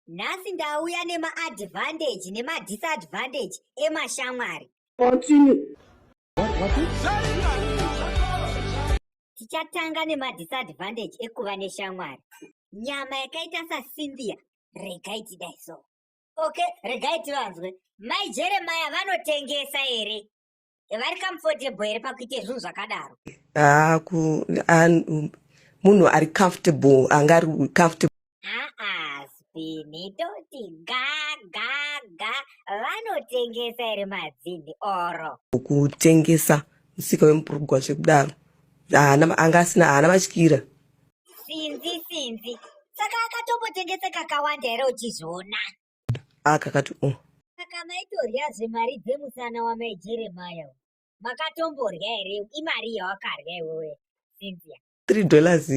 Nhasi ndauya nemaadvantage nemadisadvantage emashamwari. Continue. Tichatanga nemadisadvantage ekuva neshamwari. Nyama yakaita saCynthia regai tidai so. Okay, regai tivanzwe. Mai Jeremiah vanotengesa here? vari comfortable here pakuita zvinhu zvakadaro ah, um, munhu ari comfortable anga ari comfortable aa zvinhi toti ga ga ga vanotengesa here madzinhi oro kutengesa musika wemupurugwa zvekudaro anga asina haana matyira sinzi sinzi saka akatombotengesa kakawanda here uchizviona akakati uh saka maitoryazve mari dzemusana wamai jeremaya makatomborya here imari yawakarya iwewe cynthia three dollars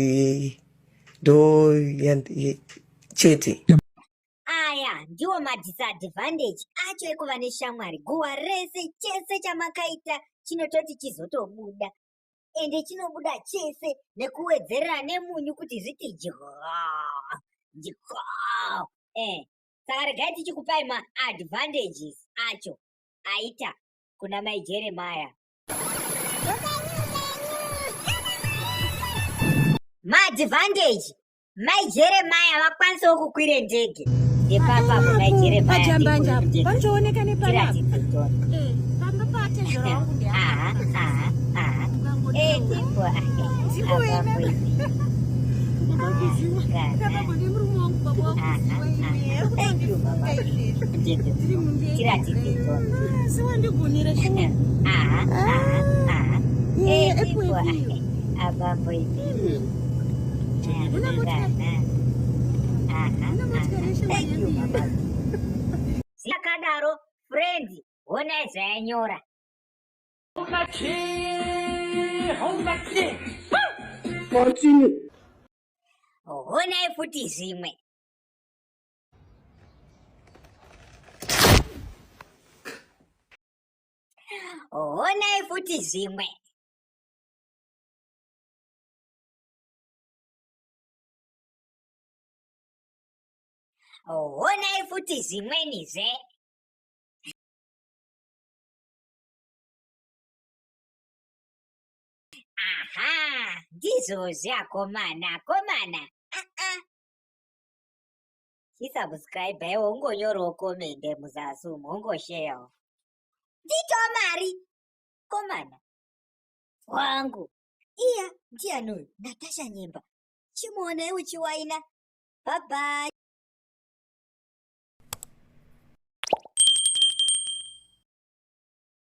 ndo chete aya ndiwo madisadvantage acho ekuva neshamwari guhwa rese chese chamakaita chinototi chizotobuda ende chinobuda chese nekuwedzerera nemunyu kuti zviti jwaa jwaa eh saka regai tichikupai maadvantages acho aita kuna mai jeremaya maadvantage mai jeremaya vakwanisewo kukwire ndege ndepapa mai jeremaya panotooneka nepaaaa Zvakadaro friends honai zvayanyora. Continue. Honai futi zvimwe. Honai futi zvimwe. honai futi zvimweni zve aha ndizvozvi akomana akomana aa chisubscribe iwe ungonyorawo komende muzasi umu ungosheyawo nditomari komana wangu Iya, ndiani uyu? Natasha Nyemba. Chimuonei uchiwaina. Bye bye.